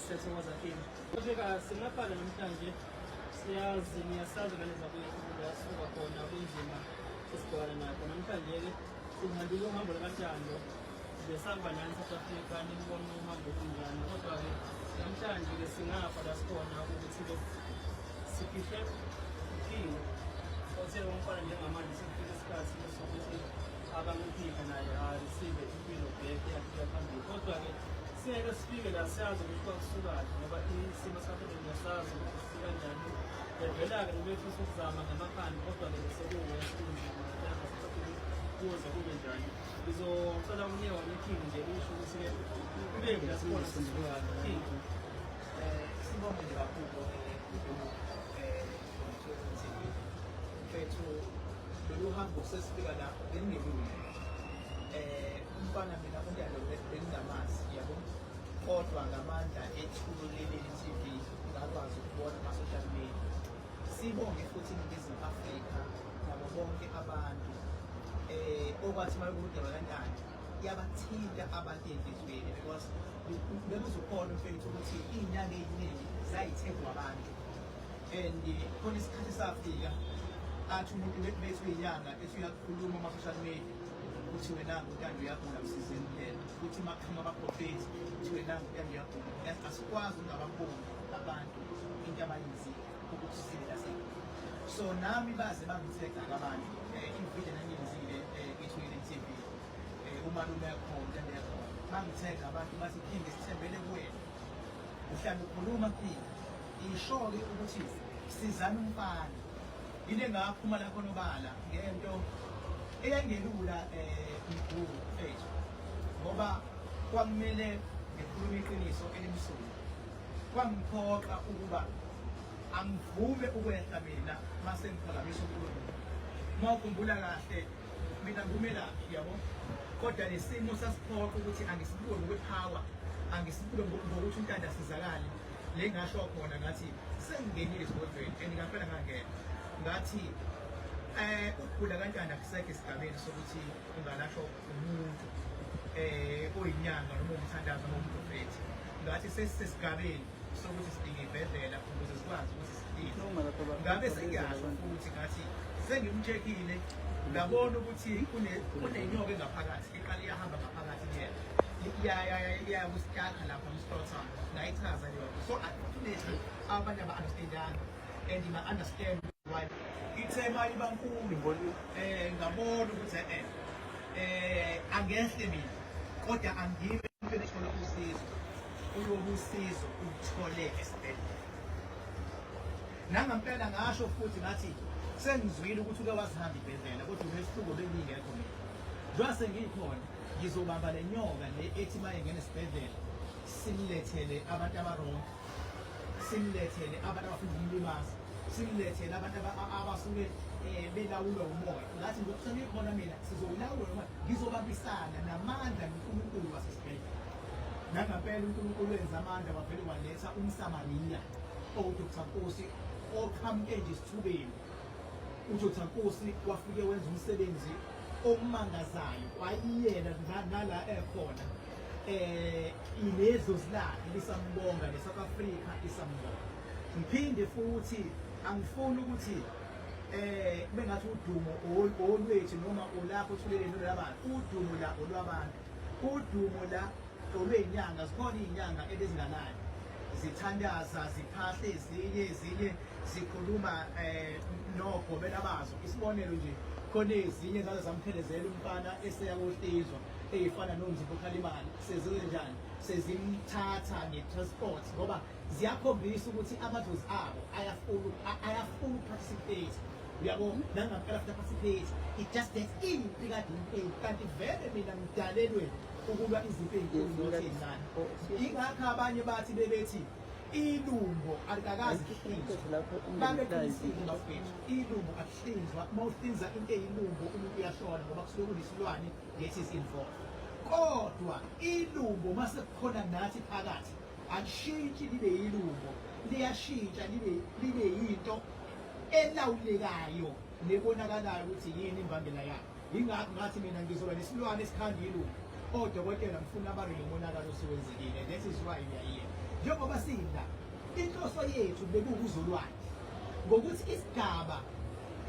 Siyathokoza King. Kodwa singaphala namhlanje siyazi niyasazi ngane zakwethu la sisuka khona kunzima esibhekana nakho namhlanje-ke sihambile uhambo lakathando besamba nani South Africa nilibona uhambo kunjani kodwa-ke namhlanje-ke singafa la sikhona ukuthi-ke sifihle uphile othe umfana njengamanje sifike isikhathi sokuthi abangiphika naye arisive impilo bheke yaphila phambili kodwa-ke Singeke sifike la siyazi ukuthi kwakusukaphi ngoba isimo sakhe bengasazi ukuthi sifika njani. Ngempela-ke ubefisa ukuzama ngamakhanda kodwa-ke besekuwe kuze kube njani ngizocela umnye wami iking nje usho ukuthi-ke kube mina sibona sesibulala king um sibonge nje kakhulu mfethu lolu hambo sesifika lapho bengingelula um umfana mina umntana bengingamazi yabo kodwa ngamandla ethulo leli TV ngakwazi ukubona ama-social media sibonge futhi iningizimu afrika nabo bonke abantu um okwathi uma bekudaba kanjani yabathinta abantu enhliziyweni because bekuzokhona mfethu ukuthi iy'nyanga ey'ningi zayithengwa abantu and khona isikhathi safika athi umuntu bethu inyanga ethi uyakhuluma ama-social media ukuthi wena ngutanda uyagula msizeni phela ukuthi makuphuma abaprofethi ukuthi wena ngutanda uyagula yazi asikwazi ungababoni abantu into abayenzile ukuthi sivela sena so nami baze bangithega abantu um eh, ividiyo nangiyenzile um eh, ithoyile tv um eh, umalume yakhona lento yakhona bangithega abantu bathi phinde sithembele kuwena uhlala ukhuluma phinde isho-ke ukuthi sizana umfana Yile ngaphuma lapho nobala ngento eyangelula eh mkhulu mfethu ngoba kwamele ngikhulume iqiniso elimsulwa kwangiphoqa ukuba angivume ukwehla mina mase ngiphakamisa unkulunkulu uma ukhumbula kahle mina ngibumelaphi yabo kodwa nesimo sasiphoqa ukuthi angisibuke ngokwepower angisibuke ngokuthi untanda asizakale le ngasho khona ngathi sengingenile esigodlweni and ngaphela ngangena ngathi eh ukugula kantanda kusekho esigabeni sokuthi ungalashwa umuntu eh oyinyanga noma umthandazo noma umprofethi ngathi sesisesigabeni sokuthi sidinge ibhedlela ukuze sikwazi ukuthi sidinge ngabe sengiyazi futhi ngathi sengimcheckile ngabona ukuthi kunenyoka engaphakathi iqala iyahamba ngaphakathi kuyena iyakusitakha lapha mslothana Ndayichaza leyo. So unfortunately abanye aba understandanga and ba understand why ithema iba nkulu ngibona eh ngabona ukuthi eh eh angehle mina kodwa angibe ngithola usizo uyobusizo uthole esibhedlela nangampela ngasho futhi ngathi sengizwile ukuthi uke wasihamba ibhedlela kodwa umehluko bengingekho mina njengoba sengikhona ngizobamba le nyoka le ethi uma engena esibhedlela simlethele abantu abarongo simlethele abantu abafuna ukumlimaza simlethele abantu abasuke eh, belawulwa umoya ngathi ngokuthana ikhona mina sizowulawula noma ngizobabisana namandla nonkulunkulu wasesibhedlela nangampela unkulunkulu wenza amandla wavele waletha umsamariya owudr nkosi oqhamuke nje esithubeni udr nkosi wafike wenza umsebenzi omangazayo wayiyena nala ekhona eh ilezos lakhe lisambonga le South Africa isambonga ngiphinde futhi angifuni ukuthi eh bengathi udumo olwethu noma olakho uthulele nolabantu udumo la olwabantu udumo la olwenyanga zikhona izinyanga ebezinganayo zithandaza ziphahle ezinye ezinye zikhuluma eh nogobela bazo isibonelo nje khona ezinye zalo zamthelezela umfana eseyakohlizwa eyifana nomzimba okhalimali sezize njani sezimthatha nge-transport ngoba ziyakhombisa ukuthi amadlozi abo ayafuna ayafuna uparticipate uyabo nangampela futhi aparticipate it just that impi kade impeli kanti vele mina ngidalelwe ukulwa izimpi ey'nkuluezincane yingakho abanye bathi bebethi ilungo alikakazi babeqinisile bafethu ilungo Hlinzwa uma uhlinza into eyilumbo umuntu uyashona ngoba kusuke kunesilwane that is involved. Kodwa ilumbo uma sekukhona nathi phakathi alishintshi libe yilumbo liyashintsha libe libe yinto elawulekayo nebonakalayo ukuthi yini imbangela yayo. yingakho ngathi mina ngizoba nesilwane esikhandilu odokotela ngifuna ababe nomonakalo osuwenzekile that is why we are here njengoba sila inhloso yethu bekuwukuzolwane ngokuthi isigaba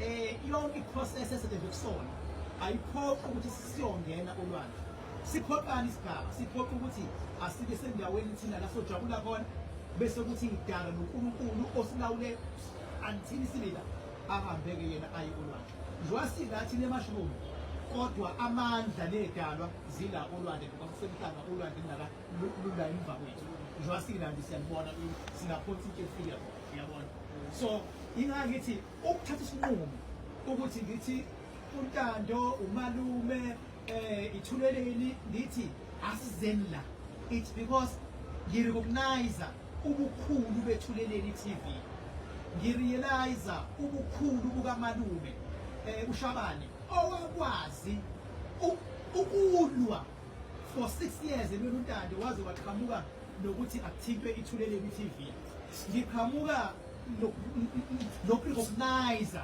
eh yonke iprocess esetshenzwe kusona ayiphoqi ukuthi siyongena olwandle siphoqani isigaba siphoqa ukuthi asike sendaweni thina la sojabula khona bese kuthi ngidala noNkulunkulu osilawule until sibila ahambeke yena aye olwandle njengoba singathi le mushroom kodwa amandla nedalwa zila olwandle ngoba kusemhlaba olwandle lindala lula emva kwethu njengoba silandi siyalibona singaphonsa into efika uyabona so ingangithi ukuthatha isinqumo ukuthi ngithi untando umalume eh ithulele yini lithi asizeni la it's because ngirecognize ubukhulu bethuleleni TV ngirealize ubukhulu bukamalume eh ushabane owakwazi ukulwa for 6 years ebeluntande waze waqhamuka nokuthi akuthintwe ithuleleni TV ngiqhamuka lokurecognize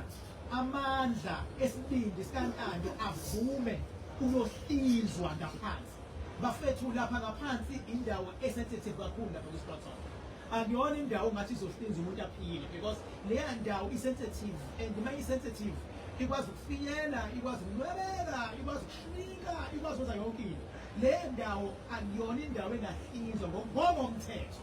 Amandla esibindi sikaNtando avume unohlizwa ngaphansi. Bafethu lapha ngaphansi indawo esensitive kakhulu lapha kwiSportson. Akuyona indawo ngathi izohlinza umuntu aphile because leya ndawo isensitive and uma isensitive ikwazi ukufiyela, ikwazi ukunwebeka, ikwazi ukushinka, ikwazi ukwenza yonke into. Le ndawo akuyona indawo engahlinzwa ngokomthetho.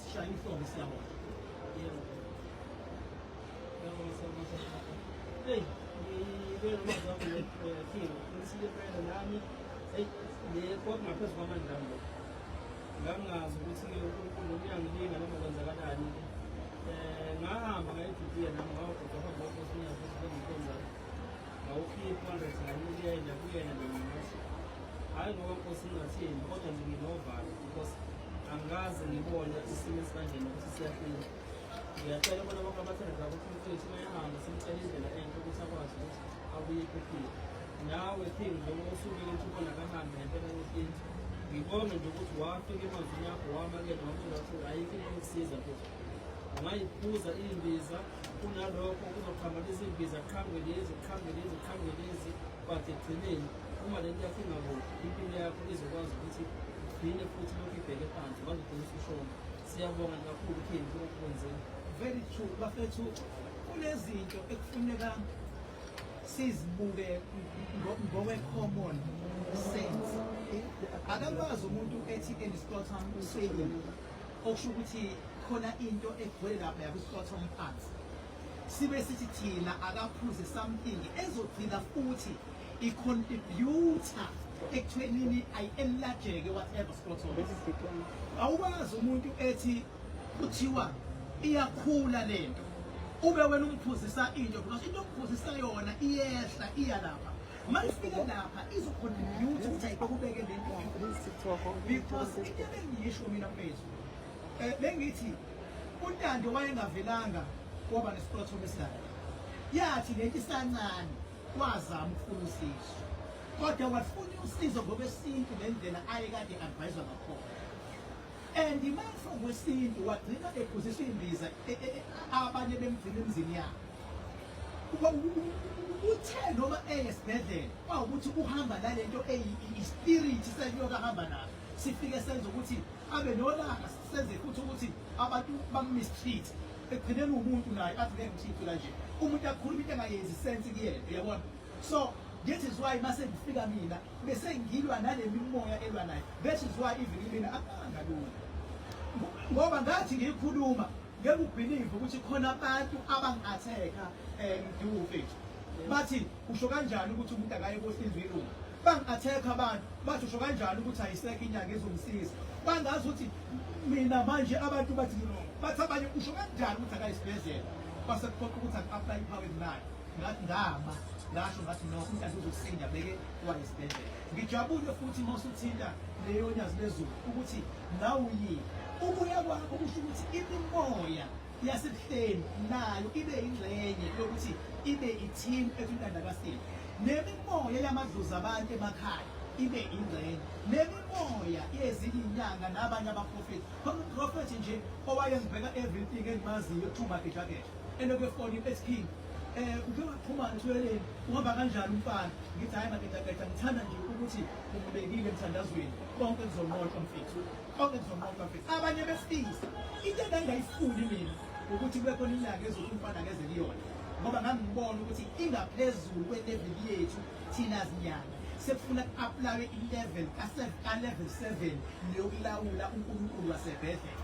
Sishaya inhlombe siyabona. Yebo. Yebo siyabona. Hey, ngibona mazakho le feel. Ngisile phela nami. Hey, le kwakungaphezulu kwamandla ami. Ngangazi ukuthi ke uNkulunkulu uyangilinga noma kwenzakalani. Eh, ngahamba ngayidudula nami ngawugoda phambi kwakho sinyazi ukuthi bengikhonza. Ngawukhipha ndothi ngayimuyela kuyena nami ngathi. Hayi ngoba nkosi ngingathini kodwa nje nginovalo. angikaze ngibone isimo esikanjena ukuthi siyaqina ngiyacela bona bonke abathandela ukuthi umfethu mayahambe simcela indlela enhle ukuthi akwazi ukuthi abuye ephephile nawe phini njengoba usukile ukuthi ubona kahambe ngempela yesintu ngibonge nje ukuthi wafika emazwini akho wamakela wamthola ukuthi ayikho into yokusiza futhi ungayiphuza imbiza kunalokho kuzoqhambanisa iy'mbiza qhambe lezi qhambe lezi qhambe lezi but ekugcineni uma le nto yakho ingaboni impilo yakho izokwazi ukuthi igcine futhi lokhu ibheke phansi wazogcina usushona siyabonga kakhulu kini kukwenzeni very true bafethu kunezinto ekufuneka sizibuke ngokwe-common sense akakwazi umuntu ethi endisikotha useyini okusho ukuthi khona into egcwele lapha yakuhlotha umphansi sibe sithi thina akaphuze something ezogcina futhi icontributa ekuthwenini ayi-enlargeke whatever scrotum awukwazi umuntu ethi kuthiwa iyakhula le nto ube wena umphuzisa into because into omphuzisa yona iyehla iya lapha Malifika lapha izokhona niyuthi ukuthi ayibekubeke le nto because into ebengiyisho mina mfethu um bengithi untando wayengavelanga waba nesiplatform esidala yathi lento isancane wazama ukufuna usizo kodwa wafuna usizo ngokwesintu ngendlela aye kade adviswa ngakhona and imafo ngwesintu wagcina ephuziswa imbiza e, e, e, abanye bemgcina emzini yabo uthe noma eyesibhedlela kwawukuthi uhamba nalento eyi-spirit senyoka ahamba nayo sifike senza ukuthi abe nolaka senze futhi ukuthi abantu bamistreat ekugcineni umuntu naye athi ngeke ngithithe kanje umuntu akhuluma into engayenzi sense kuyena uyabona so this is why mase ngifika mina bese ngilwa nale mimoya elwa nayo this is why even mina akanga lula ngoba ngathi ngiyikhuluma Ngeke ubelieve ukuthi khona abantu abangatheka eh mduku mfethu. Bathi usho kanjani ukuthi umuntu akaye kohlinzwa ilungu? Bangatheka abantu bathi usho kanjani ukuthi ayisekho inyanga ezomsiza? Bangazi ukuthi mina manje abantu bathi bathi abanye usho kanjani ukuthi akayisibhedlela? Base kuphoqa ukuthi aku-apply ipower imali. Ngathi ngama ngasho ngathi no umntana uzosinda beke wayesibhedlela. Ngijabule futhi uma usuthinta leyonyazi lezulu ukuthi nawe uyini. Ukuya kwakho kusho ukuthi imimoya yasebuhleni nayo ibe yingxenye yokuthi ibe i-team ekwintandakasini nemimoya yamadlozi abantu emakhaya ibe ingxenye nemimoya yezinyanga nabanye abaprofethi khona uprofethi nje owayengibheka everything engimaziyo thumba gejageja elokefoni esiphini Eh uke waphuma ntweleni uhamba kanjani umfana ngithi hayi maketaketa ngithanda nje ukuthi ubekile emthandazweni konke kuzonqoqa mfethu konke kuzonqoqa mfethu abanye besilisa into engangayifuni mina ukuthi kube khona inyanga ezothi umfana ngeze kuyona ngoba ngangibona ukuthi ingaphezulu kwe-level yethu thina zinyanga sekufuna ku-aplawe i-level ka-level seven leyokulawula unkulunkulu wasebhedlela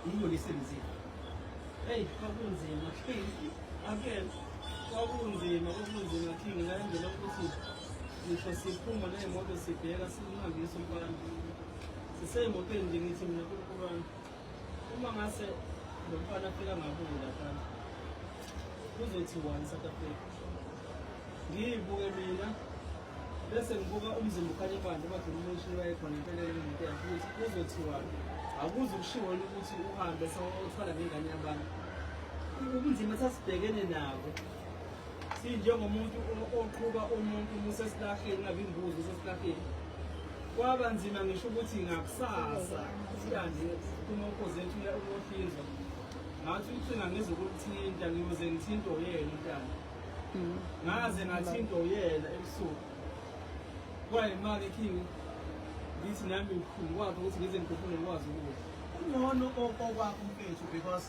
Yiyo lisenzile. Hey, kwakunzima. Amen. Kwakunzima, kwakunzima King ngayenzela ukuthi ngisho siphuma nemoto sibheka simhambisa umfana. Siseyimotweni nje ngithi mina kunkulunkulu uma ngase lo mfana afika ngabuye lapha kuzothiwani South Africa ngiyibuke mina bese ngibuka umzimba ukhanye phandle kodwa umuntu wayekhona impelele umuntu yakhe ukuthi kuzothiwani akuze ukushiwo ukuthi uhambe sewuthwala ngengane yabantu ubunzima sasibhekene nabo sinjengomuntu oqhuba umuntu musesilahleni ngabe imbuzi usesilahleni kwaba nzima ngisho ukuthi ngakusasa siyande kumokozethu uyohlinzwa ngathi ucinga ngizokulithinta ngiyoze ngithinte oyena intana Mm. ngaze ngathi into yena ebusuku kwayimake king ngithi nami ngikhulu kwakhe ukuthi ngize ngikhuphule ngikwazi ukudla kungcono okokwakho mfethu because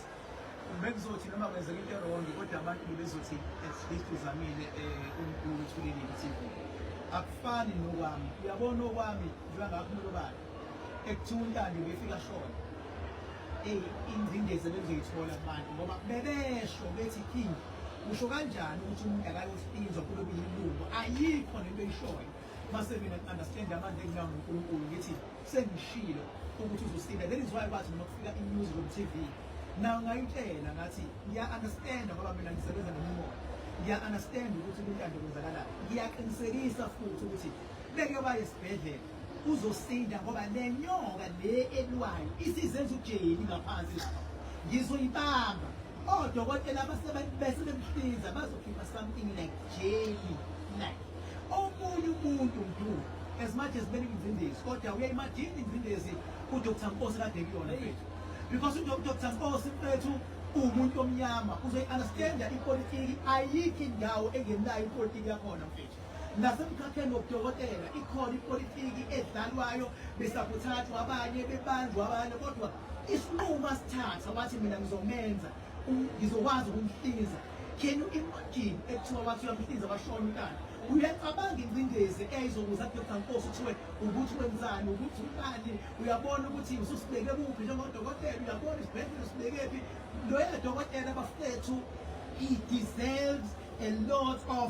bekuzothi noma kwenzeka into erongi kodwa abantu bebezothi at least uzamile um eh, umkulu uthulile i-tv akufani nokwami uyabona okwami njengangakhumula obani ekuthiwa untando befika shona eyi ingcindezi ebebezoyithola abantu ngoba bebesho bethi king usho kanjani ukuthi umuntu akayosipinzwa kube kuyilungu ayikho nento eyishoyo mase mina understand amandla enginawo ngonkulunkulu ngithi sengishilo ukuthi uzosinda then is why kwathi mina kufika inews on tv nawo ngayitshela ngathi ngiya-understanda ngoba mina ngisebenza nemimoya ngiya-understanda ukuthi kuntando kwenzakalani ngiyaqinisekisa futhi ukuthi bekuyoba yesibhedlela uzosinda ngoba le nyoka le elwayo isizenza ujeyeni ngaphansi lapha ngizoyibamba odokotela bese bemhlinza bazokhipha something like jeli like omunye umuntu mdu as much as bele ingcindezi kodwa uyayimajini ingcindezi udr nkosi kade kuyona mfethu because udr nkosi mfethu uwumuntu omnyama uzoyi-understanda ipolitiki ayikho indawo engenayo ipolitiki yakhona mfethu nasemkhakheni wobudokotela ikhona ipolitiki edlalwayo besakuthathwa abanye bebanjwa abanye kodwa isinqumo asithatha wathi mina ngizomenza ngizokwazi ukumhlinza can you imagine ekuthiwa wathi uyamhlinza washona umntana uyacabanga ingcindezi eyayizokuza kudoda nkosi kuthiwe ukuthi wenzani ukuthi ubani uyabona ukuthi ususibeke kuphi njengodokotela uyabona isibhedlela usibekephi loya dokotela bafethu he deserves a lot of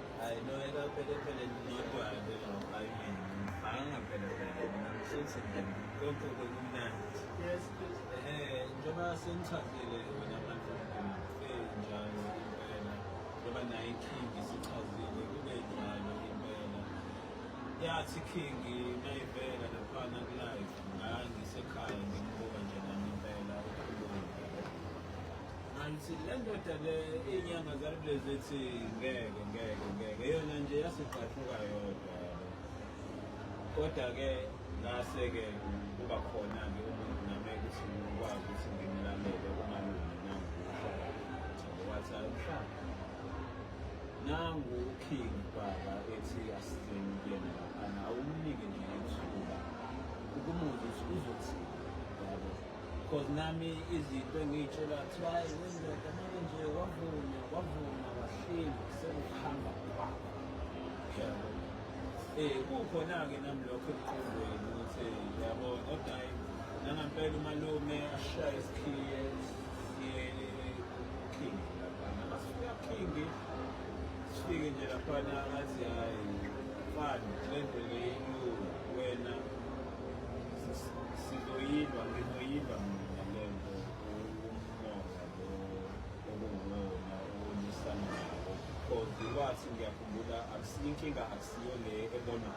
I know it up at the pele not to I do I mean banga pele pele mina ngishithi nje konke kumnandi yes eh njengoba sengichazile wena manje eh njalo impela njengoba naye iking isichazile kube njalo impela yathi king nayivela laphana kulive ngangisekhaya ngimbuka nje nami impela ukhuluma Nanti le ndoda le iy'nyanga zalikulezi ethi ngeke ngeke ngeke yona nje yasigqathuka yodwa kodwa-ke ngase-ke kuba khona-ke umuntu nami ukuthi ngikwazi ukuthi ngimlalele umalume nanguwathi aluhlanga nangu uking baba ethi asitheni kuyena laphana awumnike nje ithuba ukumuzwa ukuthi uzothini yabo Cause nami izinto engiyitshelwa kuthiwa hayi wendoda manje nje wavuma wavuma wahleli sekuhamba kwakho yabo eh kukhona-ke nami lokho emqondweni ukuthi yabo kodwa hayi nangampela umalume ashaye isikhiye king laphana masifika king sifike nje laphana ngathi hayi fani lento leyo wena sizoyilwa ngizoyilwa mina le nto umona lo okunguwona owonisana nawo cause wathi ngiyakhumbula inkinga akusiyo le ebonwa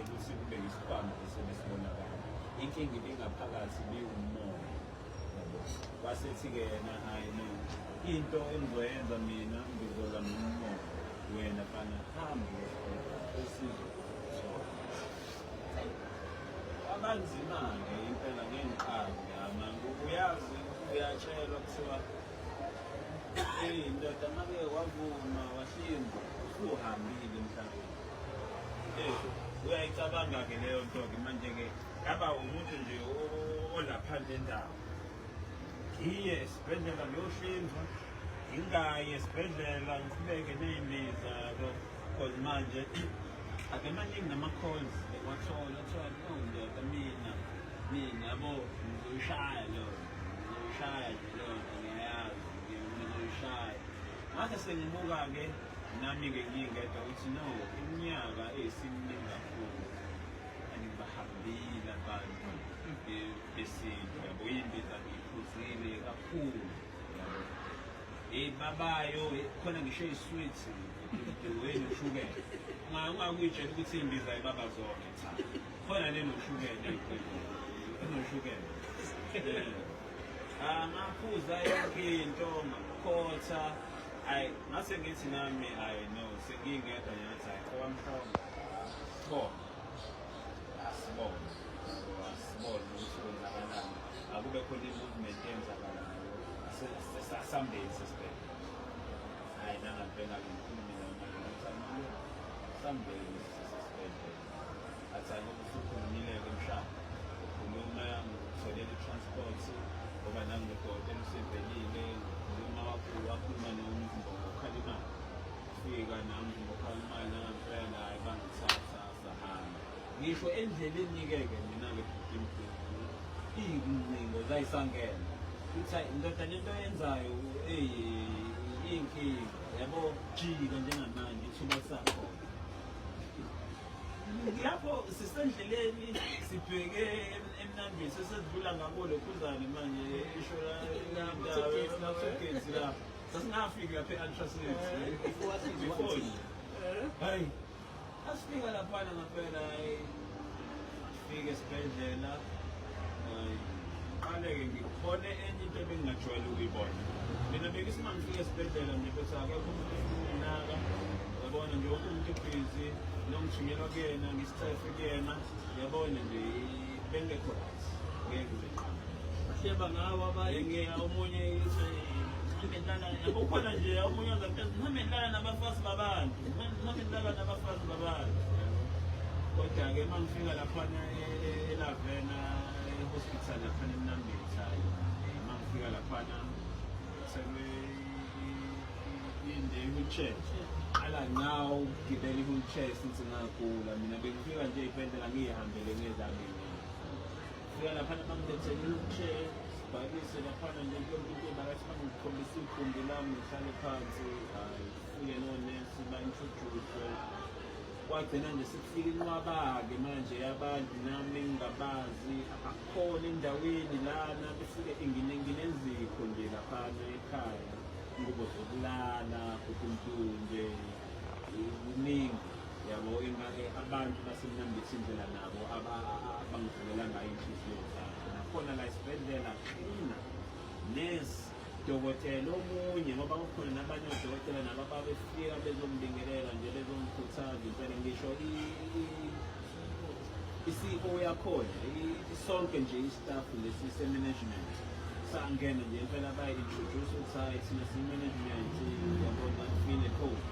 ukuthi kube yisibhamu esebesibonakala inkinga ibingaphakathi biwumoya wasethi-ke yena hayi no into engizoyenza mina ngizola nomo wena fana hambi usizo abanzima-ke impela ngengiqalo yama uyazi uyatshelwa kuthiwa eyi ndoda make wavuma wahlinza usuhambile emhlabeni uyayicabanga-ke leyo nto-ke manje-ke ngaba umuntu nje olaphandle nendawo ngiye esibhedlela ngiyohlinzwa ngingayi esibhedlela ngiqhubeke ney'mbiza yabo cause manje ake maningi nama-calls ekwathola kuthiwa no ndoda mina mina yabo ngizoyishaya leyo ngizoyishaya nje leyo nto ngiyayazi ngizoyishaya ngase sengibuka-ke nami-ke ngingedwa ukuthi no iminyaka eyisiminingi kakhulu angibahambile abantu besintu yabo yindiza ngiphuzile kakhulu yabo eyi babayo khona ngisho iswithi wenu ushukela ungakuyitshela ukuthi imbiza ibaba zonke cha khona nenoshukela enoshukela amaphuza yonke into makhotha ayi ngase ngithi nami ayi no sengingedwa nyathi ayi owamhlongo Sibonge. Asibonge. Asibonge ukuthi kwenzakalani. Akube khona i-movement eyenzakalayo. Sesambeni sesibhedlela. Hayi nanga bengake ngikhulume mina sambeni sesibhedlela. Athani ukuthi ukhulumile-ke mhlawumbe. Ukhuluma ngokutholela i-transport ngoba nanginodokotela usevelile. Ukhuluma wakhuluma nomzimba ngokukhalimala. fika nami ngokhala imali nangempela naye bangithatha sahamba ngisho endleleni-ke ke mina-ke bhudimdini iyingcingo zayisangena kuthi ndoda lento yenzayo iyinkinga yabo jika njengamanje ithuba lisakhona lapho sisendleleni sibheke emnambini sesedlula ngabo lokhuzane manje isho la lapho Sasingafiki lapha e-ultrasound. Before sisi Before. Eh? Hayi. Asifika laphana ngaphela hayi. Fike esibhedlela. Hayi. Qale-ke ngikhone enye into ebengingajwayele ukuyibona. Mina bekisi uma ngifika esibhedlela nje bese akekho umuntu enginaka. Yabona nje wonke umuntu ebhizi nongithunyelwa kuyena ngisithafe kuyena. Yabona nje bengekho right ngeke uziqale bahleba ngawo abanye ngeke omunye ngihlala nabo khona nje omunye ongaphezulu ngihambe ngihlala nabafazi babantu ngihambe ngihlala nabafazi babantu kodwa-ke uma ngifika laphana elavena e-hospital laphana emnambitha uma ngifika laphana inde i-wheelchair qala ngawo ukugibela i-wheelchair since ngagula mina bengifika nje iy'bhedlela ngiyihambele ngezami fika laphana bangilethele i-wheelchair sibhalise laphana nje yonke into ebakasi bangikhombisa igumbi lami ngihlale phansi hhayi fike nonesi ba-introduce kwagcina nje sekufika inqwaba-ke manje abantu nami ngingabazi abakhona endaweni lana befike nginenzikho nje laphana ekhaya ingubo zokulala kukuntunje kuningi yabo ingake abantu basemnambisa indlela nabo abangivulela ngayo inhliziyo zabo nakhona la isibhedlela qina nesi dokotela omunye ngoba kukhona nabanye odokotela nabo ababefika bezombingelela nje bezomkhuthaza impela ngisho i-CEO yakhona sonke nje i-staff lesi se-management sangena nje impela bayi-introduce ukuthi hhayi thina siyi-management yabona file code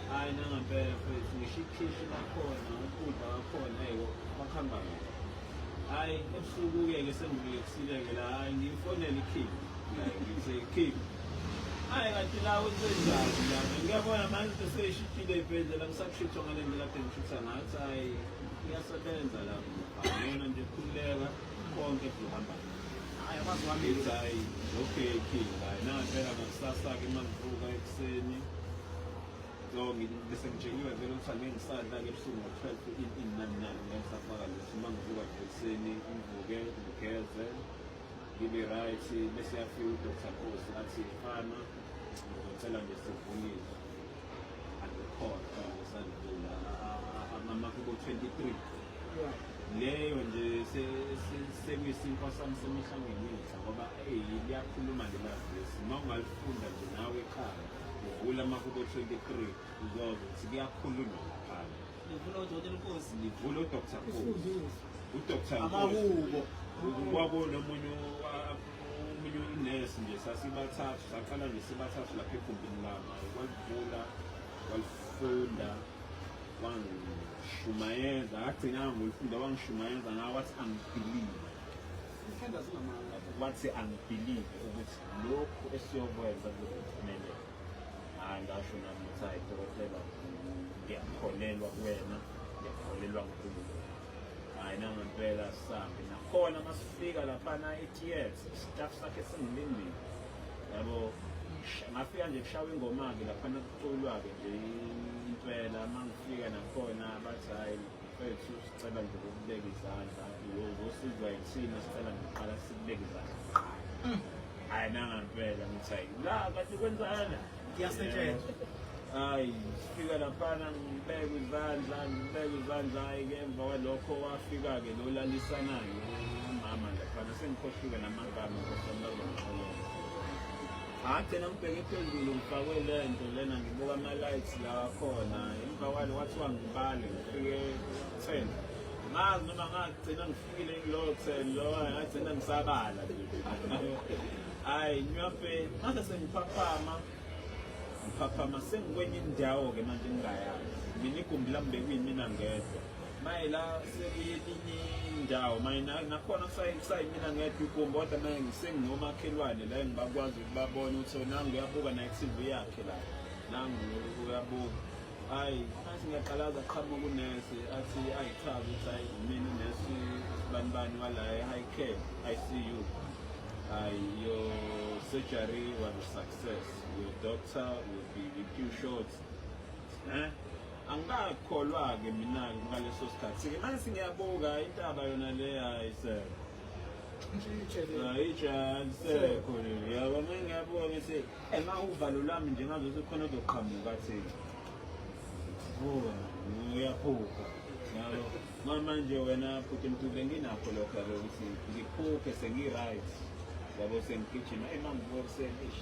hhayi nangempela futhi ngisho ikhishi lakhona ukudla kwakhona eyi bakuhamba kahle hayi ebusuku-ke ke sengikulekisile-ke la hayi ngiyifonela ikhiphi ngithe khiphi hayi kanti la wenzenjani la ngiyabona manje into seyishitshile ibhedlela ngisakushitshwa ngale ndlela kade ngishitha ngathi hayi iyasebenza la yona nje khululeka konke kuzohamba hayi kwazi wami hayi okay king hayi nampela ngakusasa-ke uma ngivuka ekuseni No, bese ngitsheliwe vele ukuthi angengisadla ke ebusuku ngo-12 inani nani ngengisafaka lutho uma ngivuka nje ekuseni ngivuke ngigeze ngibe right bese yafika udr khosi athi fana ngizocela nje sivunyiswe angikhona ngisadlula amamaki bo-23 leyo nje sekuyisinto sami semihla ngemihla ngoba eyi liyakhuluma lelazisi uma ungalifunda nje nawe ekhaya Ngivula amahubo 23 uzozwa ukuthi kuyakhulunywa ngaphandle. Ngivula uDokotela uNkosi. Ngivula uDr. Nkosi. UDr. Nkosi. Amahubo. Kwakona omunye omunye unesi nje sasibathathu saqala nje sibathathu lapha egumbini lami walivula walifunda wangishumayeza agcina ngolifunda wangishumayeza ngawathi angibhilive wathi angibhilive ukuthi lokhu esiyokwenza kuzophumelela hayi ngasho nami ukuthi hayi dokotela ngiyakholelwa kuwena ngiyakholelwa nkulunkulu hayi nangempela sambi nakhona masifika laphana e-ts staff sakhe singilindile yabo ngafika nje kushawa ingoma-ke laphana kuculwa-ke nje impela uma ngifika nakhona bathi hhayi Mfethu sicela nje ukubeka izandla uzosizwa yithina sicela nje uqala sikubeka izandla mm. hayi nangampela ngithi hayi la kanti kwenzana ngiyasetshenzwa hayi sifika laphana ngibeka izandla ngibeka izandla hhayi-ke emva kwalokho wafika-ke lo lalisanayo umama laphana sengikhohliwe namagama nkosamlazomxolele ngagcina ngibheke phezulu ngifakwe le nto lena ngibuka ama-lights la akhona emva kwale kwathiwa ngibale ngifike ten ngazi noma ngagcina ngifikile kulowo ten lowo ngagcina ngisabala hhayi nyope mase sengiphaphama ngiphaphama sengikwenye indawo-ke manje ngingayazi mina igumbi lami bekuyimina ngedwa maye la sekuye eminye indawo maye nakhona kusayimina ngedwa igumbi kodwa maye sengingomakhelwane la engibakwazi ukubabona ukuthi nangu uyabuka naye ku-tv yakhe la nangu uyabuka hayi athi ngiyaqalaza qhamuka unesi athi ayichaze ukuthi hayi mina unesi sibanibani wala e-high care i see you hayi your surgery was a success your doctor will be with you short eh? angikakholwa-ke mina-ke ngaleso sikhathi-ke nansi ngiyabuka intaba yona le hayi sir ayijalisekho yabo ma ngiyabuka ngithi ema uvalo lami nje ngazothi khona ozoqhamuka thina vuka uyaphupha yabo mamanje wena futhi mtule nginakho lokho yabo ukuthi ngiphuphe sengi-right yabo sengigijima emangibuka kuseni ish